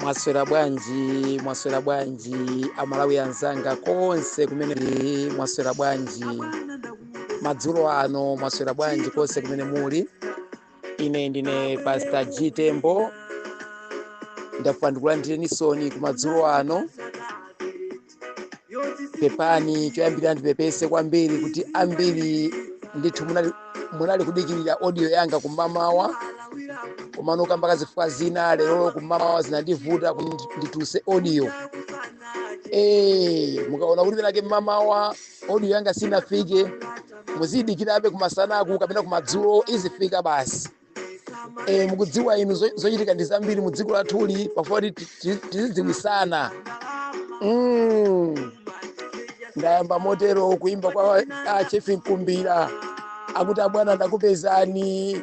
mwaswera bwanji mwaswera bwanji amalawi anzanga konse kumene muli mwaswera bwanji madzulo ano mwaswera bwanji konse kumene muli ine ndine pastor g tembo ndafuna ndikulandireni soni ku madzulo ano pepani choyambirira ndipepese kwambiri kuti ambiri ndithu munali, munali kudikirira audio yanga kumamawa komano kamba ka zifukwa zina lero kumamawa zinandivuta kuti ndituse audio Eh, mukaona kuti penake mmamawa audio yanga sinafike muziyidikirabe kumasanaku kapena kumadzulo izifika basi eh, mukudziwa inu zo- zochitika ndi zambiri mu dziko lathuli pafunika kuti ti- ti- tizidziwisana Mm. ndayamba motero kuimba kwa a chief mkumbira akuti abwana ndakupezani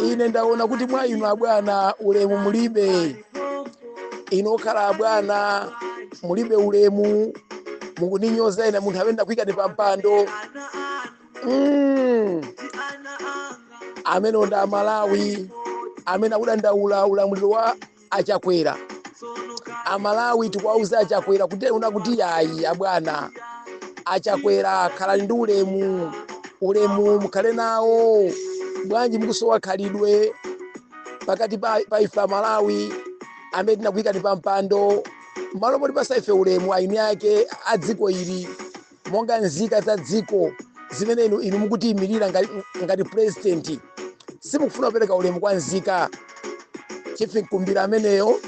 ine ndaona kuti mwa inu abwana ulemu mulibe inu okhala abwana mulibe ulemu mukundinyoza ine munthu amene ndakuikani pa mpando Mm. amene ndi amalawi amene akudandaula ulamuliro wa achakwera amalawi tikuwawuza achakwera kuti una kuti ayi abwana achakwera khalani ndi ulemu ulemu mukhale nawo bwanji mukusowa khalidwe pakati pa pa ife amalawi amene tinakuyikani pa mpando malo moti patsa ife ulemu eni ake a dziko ili monga nzika za dziko zimene inu, inu mukuziyimirira ngati, ngati purezidenti simukufuna kupereka ulemu kwa nzika chief mkumbira ameneyo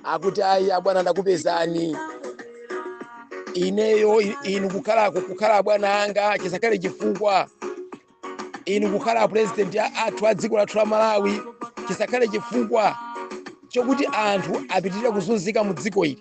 akuti ayi abwana ndakupezani ineyo i- inu kukhala kukhala abwana anga chisakhale chifukwa inu kukhala apurezidenti athu a dziko lathu la malawi chisakhale chifukwa chokuti anthu apitirira kuzunzika mu dziko ili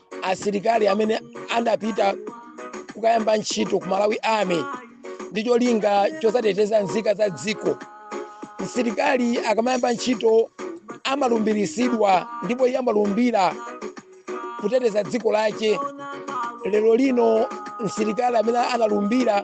asilikali amene anapita kukayamba ntchito ku malawi army ndi cholinga chozateteza nzika za dziko msilikali akamayamba ntchito amalumbirisidwa ndipo iye amalumbira kuteteza dziko lache lero lino msilikali amene analumbira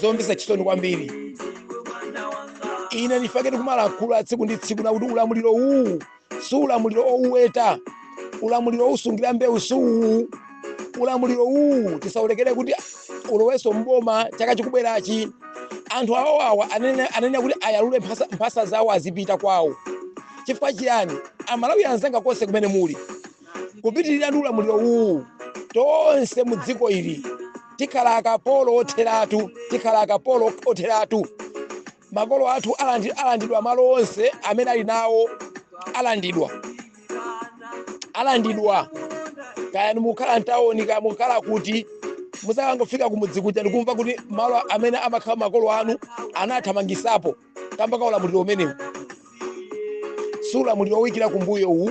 zomvetsa chisoni kwambiri ine nchifukwa chake ndikumalankhula tsiku ndi tsiku nakuti ulamuliro uwu si ulamuliro owuweta ulamuliro wousungira mbewu si uwu ulamuliro uwu tisaulekere kuti ulowenso mboma chaka chikubwerachi anthu awawawa ayenera- ayenera kuti ayalule mphasa- mphasa zawo azipita kwawo chifukwa chiyani amalawi anzanga konse kumene muli kupitirira ndi ulamuliro uwu tonse mu dziko ili tikhala akapolo otheratu tikhala akapolo otheratu makolo athu alandi- alandidwa malo onse amene ali nawo alandidwa alandidwa kaya mukukhala mtawoni kaya mukukhala kuti mudzakangofika kumudzi kuja ndikumva kuti malo amene amakhala makolo anu anathamangitsapo kamba ka ulamuliro umenewu si ulamuliro woyikira kumbuyo uwu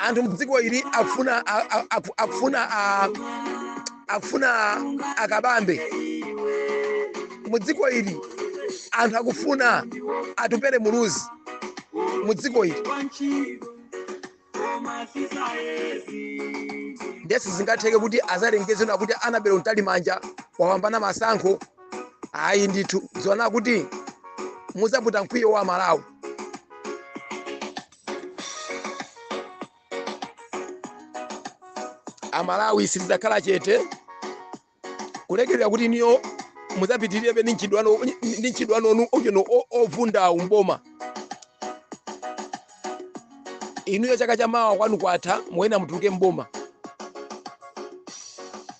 anthu mdziko ili akufuna a- a- aku- akufuna a- akufuna a kabambe mudziko ili anthu akufuna atupele muluzi mudziko ili nde sizingatheke kuti azalengeze na kuti annabel mtalimanja wapambana masankho ayi ndithu dziwani kuti muzaputa mkwiyo wa amalawi amalawi sitidzakhala chete kulekerera kuti inuyo muzapitirebe ndi mchitidwe wanu ndi mchitidwe wanu ocheno ovundawu mboma inuyo chaka cha mawa kwanu kwatha muyenera mutuluke mboma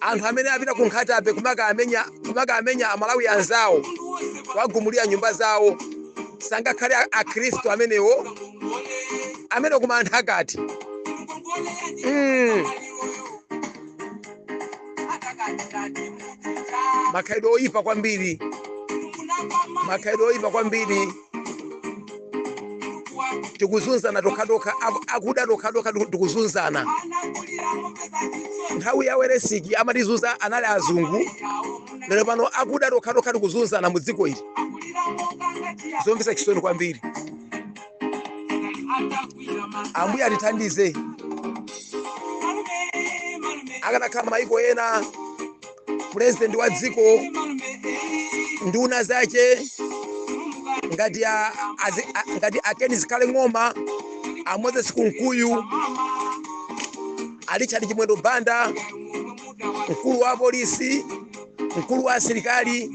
anthu amene apita ku nkhata bay kumakamenya kumakamenya amalawi anzawo kuwagumulira nyumba zawo sangakhale a- akhristu amenewo amene koma anthu akati mm. makhalidwe oyipa kwambiri makhalidwe oyipa kwambiri tikuzunzana tokhatokha aku- akuda tokhatokha tiku- tikuzunzana nthawi ya welensky amatizunza anali azungu lero pano akuda tokhatokha tikuzunzana mu dziko ili zomvetsa chisoni kwambiri ambuye atithandize akanakhala maiko ena purezidenti wa dziko nduna zache ngati a- azi- a- ngati a ken zikhale ng'oma a moses kunkuyu a richard chimwendo banda mkulu wa polisi mkulu wa asilikali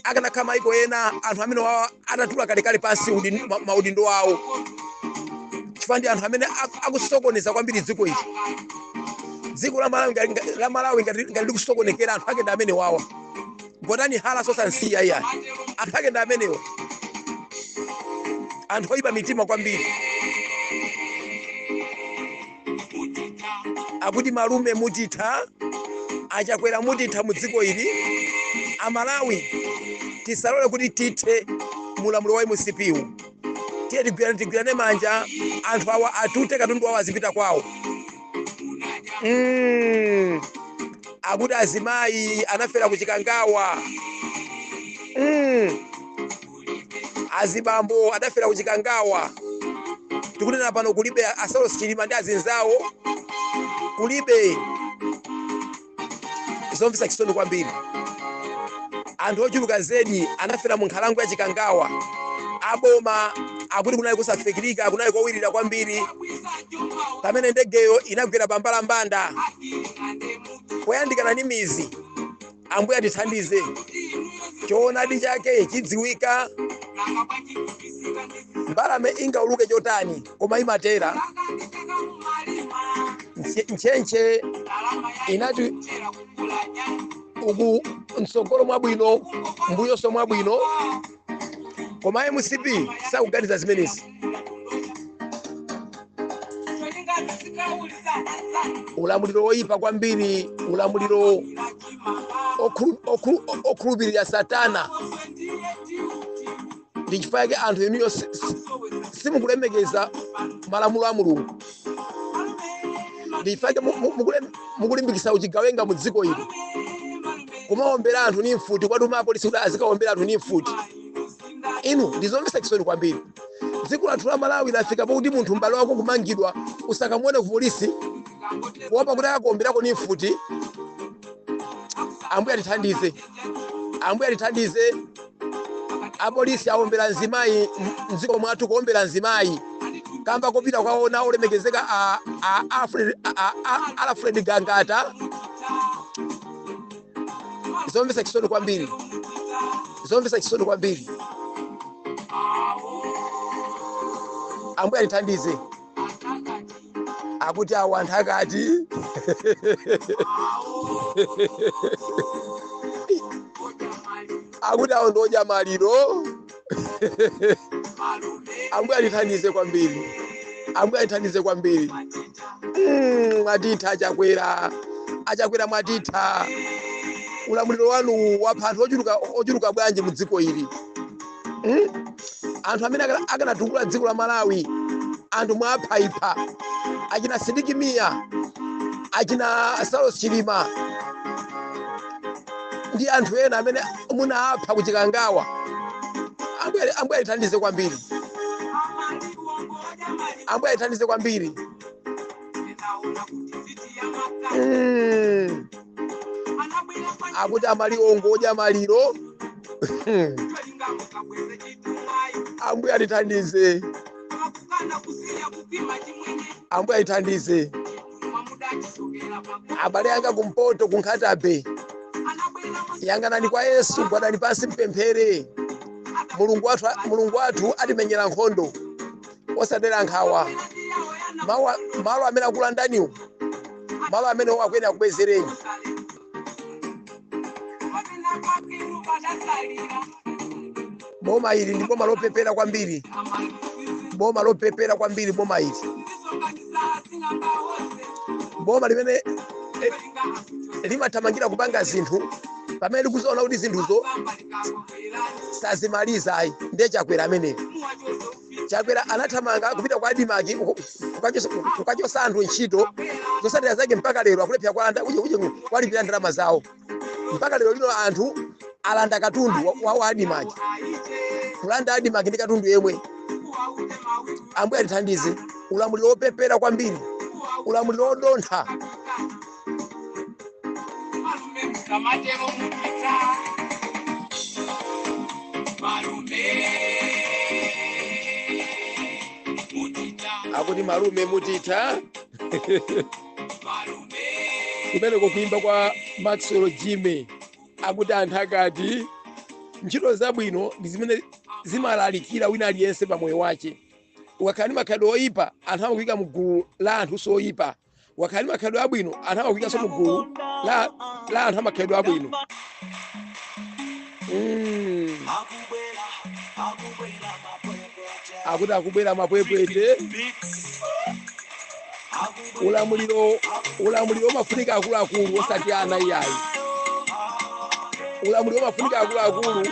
akanakhala maiko ena anthu amenewawa atatula kalekale pansi udin- ma- maudindo awo chifukwa ndi anthu amene ak- akusokoneza kwambiri dziko ili dziko la malawi ngati- ngati- la malawi ngati ngati likusokonekera anthu ake ndi amenewawa gotani haranso osamsiya iyayi anthu ake ndi amenewo anthu oyipa mitima kwambiri akuti malume mutitha achakwera mutitha mu dziko ili amalawi tisalole kuti tithe mulamuliro wa mcp wu tiye tigwirane tigwirane manja anthu awa atute katundu wawo azipita kwawo mm. akuti azimayi anafera kuchikangawa mm. azibambo adafera kuchikangawa tikunena pano kulibe asaulos chilima ndi azinzawo kulibe zomvetsa chisoni kwambiri anthu ochuluka zedi anafera mu nkhalango ya chikangawa aboma akuti kunali kusafikirika kunali kowirira kwambiri pamene ndegeyo inagwera pambalambanda poyandikana ndi midzi ambuye atithandize choonadi chake chidziwika mbalame ingauluke chotani koma imatera ntchentche inati uku mtsogolo mwabwino mbuyonso mwabwino koma mcp sakuganiza zimenezi zinakondosha cholingana sikauliza anzani ulamuliro woyipa kwambiri ulamuliro inachimanga okhulu- okhulu- o- okhulupirira satana onse ndiye tiuti ndi chifukwa chake anthu inuyo si- si- soweza simukulemekeza malamulo a mulungu ndi chifukwa chake mu- mu- mukule- mukulimbikisa uchigawenga mu dziko ili kumaombera anthu ni mfuti kwati umapolisi kuti azikaombera anthu ni mfuti inu ndizomvetsa chisoni kwambiri dziko lathu la malawi lafika pakuti munthu m'bale wako kumangidwa usakamuone kupolisi kuopa kuti akakuomberako ni mfuti ambuye atithandize ambuye atithandize apolisi aombera mzimayi m- mdziko mwathu kuombera mzimayi kamba kopita kwaona olemekezeka a- alfred gangata zomvetsa chisoni kwambiri zomvetsa chisoni kwambiri ambuye atithandize akuti awa anthakati akuti awo ndi odya maliro ambuye atithandize kwambiri ambuye atithandize kwambiri Mm, mwatitha achakwera achakwera mwatitha ulamuliro wanu wapha anthu ochuluka bwanji mu dziko ili Mm? anthu amene akanatukula dziko la malawi anthu mwaphaipha achina sidik mia achina saulos chilima ndi anthu ena amene munapha ku chikangawa ambuye ambuye atithandize kwambiri ambuye atithandize kwambiri Mm. akuti amaliwongo odya maliro ambuye atithandize ambuye atithandize abale anga kumpoto kunkhatabe yang'anani kwa yesu gwadani pansi mpemphere mulungu wathu mulungu wathu atimenyera nkhondo osadera nkhawa Mawa- malo amene akulandaniwo malo amene akuyenera akubwezereni boma ili ndi boma lopepera kwambiri boma lopepera kwambiri boma ili boma limene eh, limathamangira kupanga zinthu pamene likudziona kuti zinthuzo sazimaliza ayi ndiye chakwera ameneyo Chakwera anathamanga kupita ku Admarc ku- kukachosa kukachosa anthu ntchito zosatira zake mpaka lero akulephera kuwalanda uje uje kuwalipira ndalama zawo mpaka lero lino anthu alanda katundu wa- wa wa Admarc kulanda Admarc ndi katundu yemwe ambuye atithandize ulamuliro wopepera kwambiri ulamuliro wodontha malume musamatero mutitha malume mutitha akuti malume mutitha malume kumeneko kuimba kwa maxwell jimmy akuti anthu akati ntchito zabwino ndi zimene zimalalikira wina aliyense pa moyo wace ukakhala ndi makhalidwe oyipa anthu amakuyika mu gulu la anthu oyipa ukakhala ndi makhalidwe abwino anthu amakuikanso mu gulu la la anthu amakhalidwe abwino Mm. akuti akubwera mapwepwete ulamuliro ulamuliro umafunika akuluakulu osati ana iyayi ulamuliro umafunika akuluakulu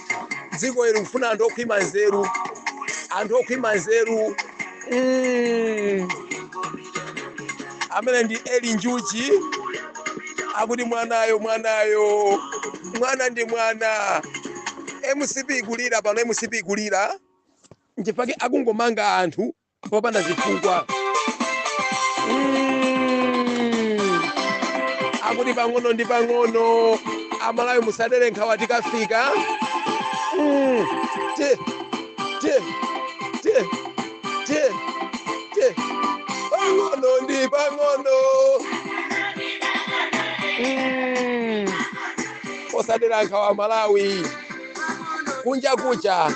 dziko ili likufuna anthu okhwima nzeru anthu okhwima nzeru mm. amene ndi eli njuchi akuti mwanayo mwanayo mwana ndi mwana mcp ikulira pano mcp ikulira nchifukwa chake akungomanga anthu popanda zifukwa Mm. akuti pang'ono ndi pang'ono amalawi musadere nkhawa tikafika Mm. Ti, ti, ti, ti, ti. pang'ono ndi pang'ono Mm. osadera nkhawa malawi kunja kucha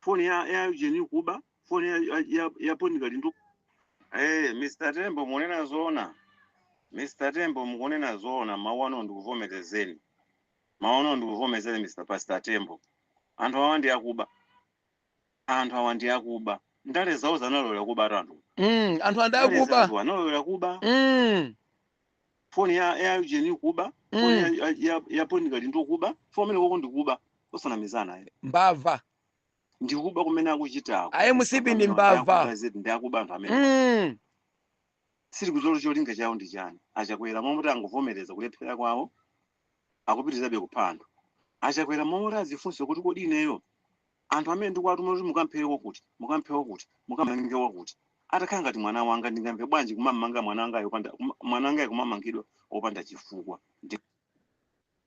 foni ya Eugene kuba foni ya ya, ya, ya Bon Kalindo Hey, Mr. Tembo mukunena zoona. Mr. Tembo mukunena zoona mawu ano ndikuvomerezeni. Mawu ano ndikuvomerezeni Mr. Pastor Tembo. Anthu awa ndi akuba. Anthu awa ndi akuba. Ndale zawo analowera kuba anthu. Mm, anthu Ndale ndi akuba. zawo analowera kuba. Mm. foni ya Eugene kuba foni ya, Mm. ya, ya, ya Bon Kalindo kuba foni kumeneko ko ndikuba osanamizana ayi mbava ndikuba kumene akuchitako a mcp ndi mbava ndi akuba anthu amene Mm. sindikudziwa cholinga chawo ndi chani a Chakwera mmalo moti angovomereza kulephera kwawo akupitirizabe kupha anthu. A Chakwera mmalo moti adzifunse kuti kodi ineyo anthu amene ndikuwatuma kuti mukamphere wakuti, mukamphe wakuti, mukamange wakuti, atakhala ngati mwana wanga ndingamve bwanji kumammanga mwana wangayo opanda, kuma- mwana wangayo kumamangidwa opanda chifukwa? Ndi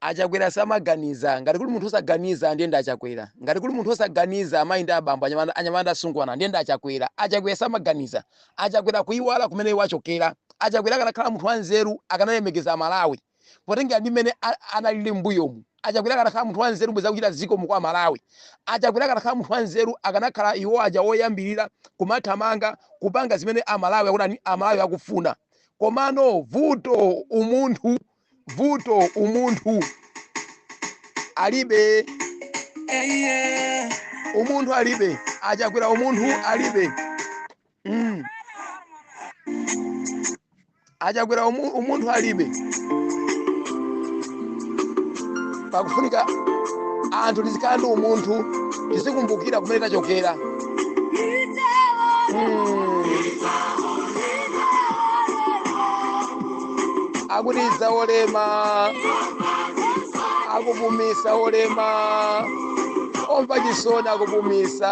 achakwera samaganiza ngati kuli munthu osaganiza ndiye ndi achakwera ngati kuli munthu osaganiza amayi ndi abambo anyamata anyamata ndi asungwana ndiye ndi achakwera achakwera samaganiza achakwera kuyiwala kumene iwo achokera achakwera akanakhala munthu wanzeru akanalemekeza amalawi potengera ndi mmene analili mbuyomu achakwera akanakhala munthu wanzeru bwenzi akuchita zikomo kwa amalawi achakwera akanakhala munthu wanzeru akanakhala iwo aja woyambirira kumathamanga kupanga zimene amalawi akutani amalawi akufuna komano vuto umunthu vuto umunthu alibe umunthu alibe achakwera umunthu alibe Mm. achakwera umu- umunthu alibe pakufunika anthu tizikhala ndi umunthu tizikumbukira kumene tachokera Mm. akuti idza olema akupumisa olema omva chisoni akupumisa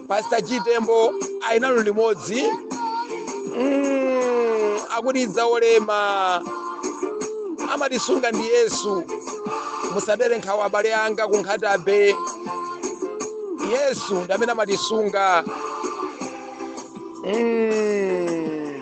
pastor chitembo ali nanu limodzi Mm, akuti idza olema amatisunga ndi yesu musadere nkhawa abale anga ku nkhata bay yesu ndi amene amatisunga Mm.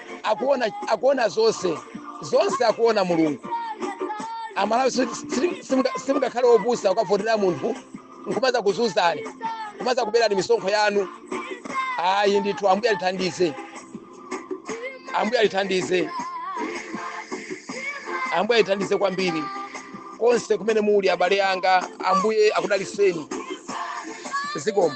akuona akuona zonse zonse akuona mulungu amalawi si- si- simuka- simungakhale opusa kukavotera munthu nkumaza kuzuzani kumaza kuberani misonkho yanu ayi ndithu ambuye alithandize ambuye alithandize ambuye alithandize kwambiri konse kumene muli abale anga ambuye akudaliseni zikomo